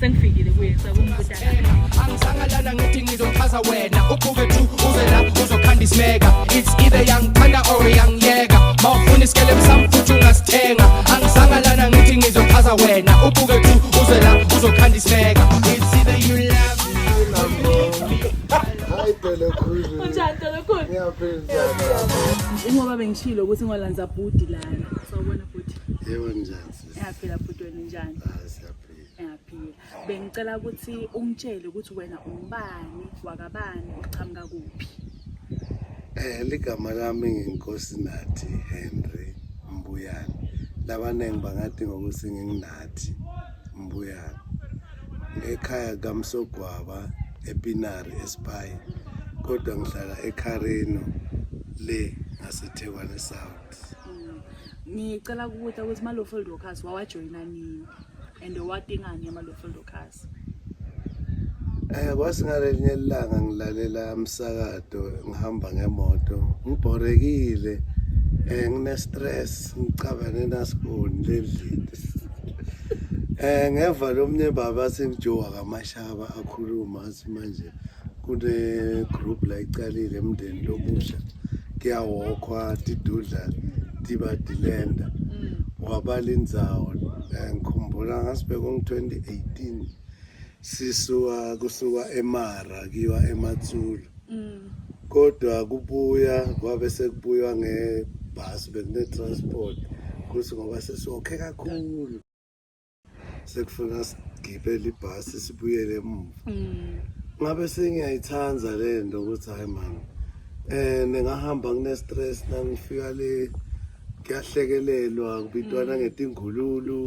sengifikile kuye sakumbuta angisangalala ngithi ngizochaza wena uqhuke tu uze la uzokhanda isimeka it's either young thanda or young yeka mawufuna isikele msamfuthi ungasithenga angisangalala ngithi ngizochaza wena uqhuke tu uze la uzokhanda isimeka it's either you love njengoba bengishilo ukuthi ngolanza bhudi lana sawubona bhudi yebo njani Ngiyaphila bhuti wena unjani? Ah, siyaphila. Ngiyaphila. Bengicela ukuthi ungitshele ukuthi wena umbani wakabani uqhamuka kuphi. Eh ligama lami nginkosi Nathi Henry Mbuyane. Labaningi bangathi ngokuthi nginginathi Mbuyane. Ngekhaya kaMsogwaba ePinari eSpy kodwa ngihlala eKharino le ngaseThekwani South. Mm. Ngicela kubuta ukuthi ma low field workers wawajoyina nini and owadingani ama low field workers. Eh kwasingalenye ilanga ngilalela umsakato ngihamba ngemoto ngibhorekile eh ngine stress ngicabane nasiboni lendlini Eh ngeva lomnye baba sengijowa kamashaba akhuluma athi manje kune-group la icalile emndeni lomusha kuyawokhwa tidudla tiba dilenda mm. wabala indzawo eh, ngikhumbula ngasibeka ngo-2018 sisuka kusuka emara kiwa ematsulu mm. kodwa kubuya kwabe sekubuywa ngebhasi bekune-transport kuthi ngoba sesiwokhe kakhulu sekufuna sigibele ibhasi sibuyele emuva mm. ngabe sengiyayithanda le nto ukuthi hayi mani um ningahamba kune-stress nangifika le kuyahlekelelwa kubitwana mm. ngetingululu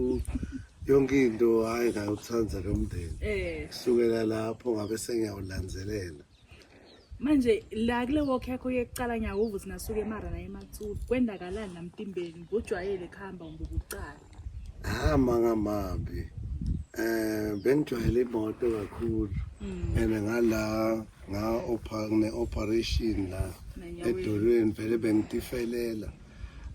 yonke into hhayi ngayowuthanda lo mndeni eh. kusukela lapho ngabe sengiyawulandzelela manje la kule walk yakho yekucala ngiyawuva ukuthi nasuke emara naye ematsulu kwendakalani namtimbeni ngojwayele kuhamba ngokucala ah mangamambi eh bengijwayele imoto kakhulu hmm. and ngala nga ne operation la edolweni vele bengitifelela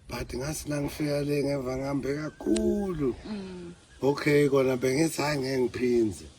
but ngasi la ngifika le ngeva ngihambe kakhulu hmm. okay kona bengithi hayi ngeke ngiphindze mm.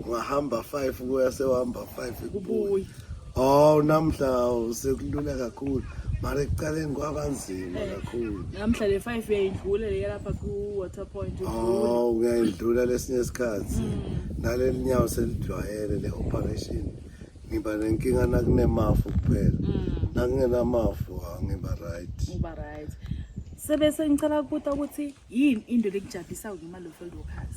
ungahamba 5 kuya sewahamba 5 kubuya oh namhla usekulula kakhulu mara ekuqaleni kwabanzima eh, kakhulu namhla le 5 uyayidlula le lapha ku water point oh uyayidlula lesinye isikhathi mm. naleli nyawo selidwayele le operation ngiba nenkinga nakunemafu kuphela mm. nakungenamafu ngiba right uba right sebese ngicela ukubuta ukuthi yini into lekujabhisa ngemali of workers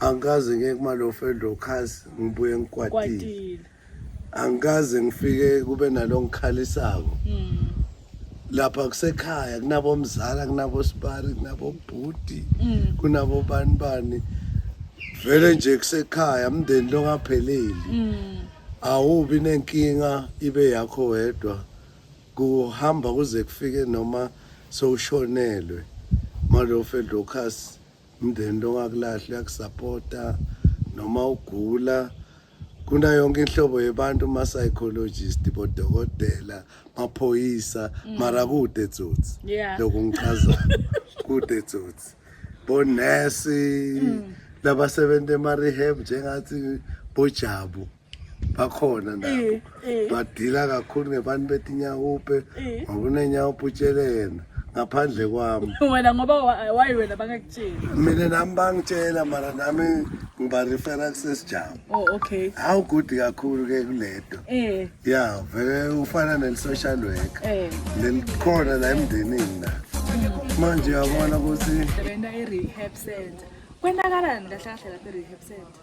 angikaze ngeke kumalofedlo khasi ngibuye ngikwatile angikaze ngifike kube nalongikhalisako mm. lapha kusekhaya kunabomzala kunabosibari kunabobhuti mm. kunabobani bani vele nje kusekhaya umndeni longapheleli mm. awubi nenkinga ibe yakho wedwa kuhamba kuze kufike noma sowushonelwe malofedlo khasi umndeni lo ongakulahle uyakusapota noma ugula kuna yonke inhlobo yebantu ma psychologist bodokotela maphoyisa mm. mara kude tsotsi lokho ngichaza kude tsotsi bonesi mm. labasebenza ema rehab njengathi bojabu bakhona nabo badila kakhulu ngebantu betinyawupe ngoba unenyawupe utshele yena ngaphandle kwami wena ngoba wayi wena bangakutsheli mina nami bangitshela mara nami ngibarefera kusesijama oh okay hawu good kakhulu ke kuleto eh ya vele ufana neli-social worker eh lelikhona la emndenini la manje uyabona ukuthi sebenza e-rehab center kwenakalani kahle kahle lapha e-rehab center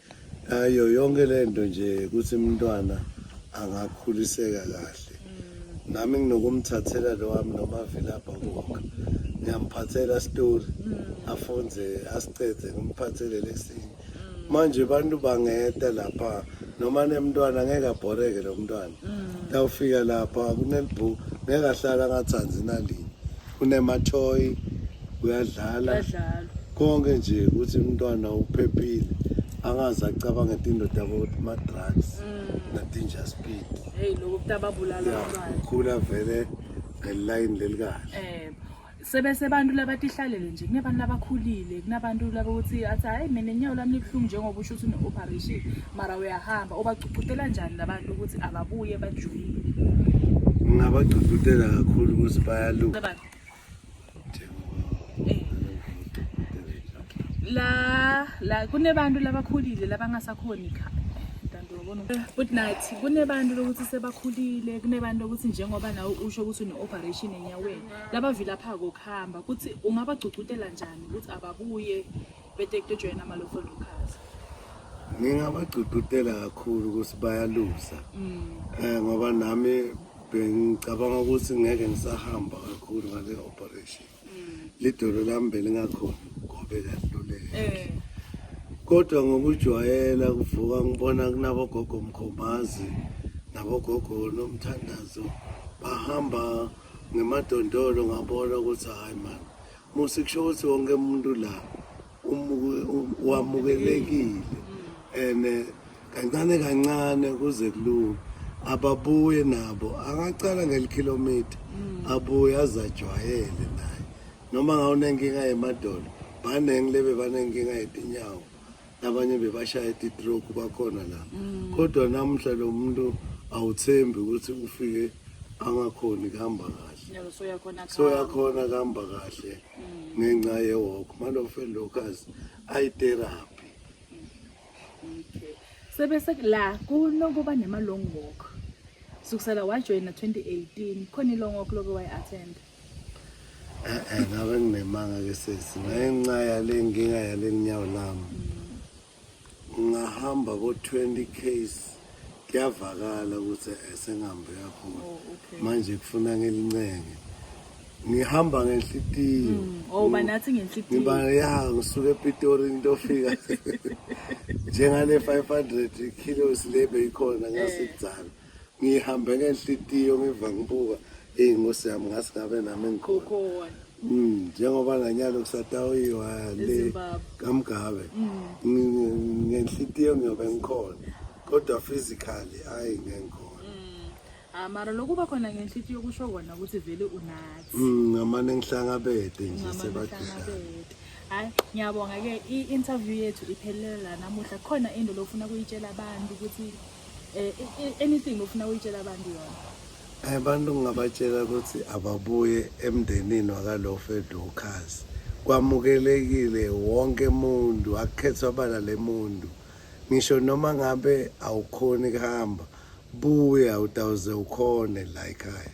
ayo yonke le nto nje ukuthi umntwana angakhuliseka kahle nami nginokumthathela lo wami nomavilapha konke ngiyamphathela story afunde asicede ngimphathele lesinye manje abantu bangeta lapha noma nemntwana ngeke abhoreke lo mntwana tawufika lapha kunelibhuku ngeke ahlala angathandi nalinye kunemathoyi kuyadlala Badlalo. konke nje ukuthi umntwana uphephile angaze acabange tindoda ma-drugs na-danger speed Hey lokho kutababulala ya abantwana. ukhula vele ngelayini lelikahle Eh sebese abantu labatihlalele nje kunabantu labakhulile kunabantu labokuthi athi hayi mina inyawo lami libuhlungu njengoba usho ukuthi une-operation mara uyahamba ubagcugcutela njani labantu ukuthi ababuye bajoyine ngingabagcugcutela kakhulu ukuthi bayaluka Labantu, eh, la la kunebantu labakhulile labangasakhoni kha Ntanto, wabona ukuthi- futhi nathi kunebantu lokuthi sebakhulile kunebantu lokuthi njengoba nawe usho ukuthi une-operation enyaweni labavilaphako kuhamba kuthi ungabagcugcutela njani ukuthi ababuye Bete kujoyina amalofo Lucas. Ngingabagcugcutela kakhulu ukuthi bayaluza. Mm. Eh ngoba nami bengicabanga ukuthi ngeke ngisahamba kakhulu ngale operation. Mm. Lidolo lami belingakhona ngobe kaluleke. Eh. Kodwa ngokujwayela kuvuka ngibona kunabo gogo mkhombazi nabo gogo nomthandazo bahamba ngemadondolo ngabona ukuthi hayi mani Musi kusho ukuthi wonke umuntu la wamukelekile and eh, kancane kancane kuze kulunge ababuye nabo angacala ngelikhilomitha mm. abuye azajwayele naye noma ngawunenkinga yemadolo baningi lebe banenkinga yetinyawo nabanye bebashaya titroke bakhona la mm. kodwa namuhla lo muntu awuthembi ukuthi ufike angakhoni kuhamba kahle soyakhona kuhamba kahle mm. ngenxa yewok malofe locus ayitherapy sebese la kunokuba nema-long walk sukusela wajoyina 2018 khona i-long walk loke wayi-attenda Eh ngabe nginemanga ke sesi ngenxa yale nkinga yale nyawo lami ngahamba ko 20 case kuyavakala ukuthi esengihambe kakhulu oh, manje kufuna ngelincenge ngihamba ngenhlitiyo mm, oh mm. banathi ngenhlitiyo ngiba ya ngisuka ePitori ngiyofika njengale 500 kilos lebe ikhona ngasekudzala eh. ngihambe ngenhlitiyo ngiva ngibuka eyi nkosi yami ngase ngabe nami engikhona mm, njengoba nganyalo kusatawiwa le kamgabe mm. ngenhlitiyo ngiyobe ngikhona kodwa physically ayi ngengikhona mm. ah, mara lokuba khona ngenhlitiyo kusho kona ukuthi vele unathi ngamane ngihlangabede nje sebadidlana hayi ngiyabonga-ke i-interview yethu iphelele la namuhla khona into lofuna kuyitshela abantu ukuthi Eh, anything ofuna uyitshela abantu yona eh, abantu ngingabatshela ukuthi ababuye emndenini wakalofa edokhazi kwamukelekile wonke muntu akukhethwa bala le muntu ngisho noma ngabe awukhoni kuhamba buya utawuze ukhone la ekhaya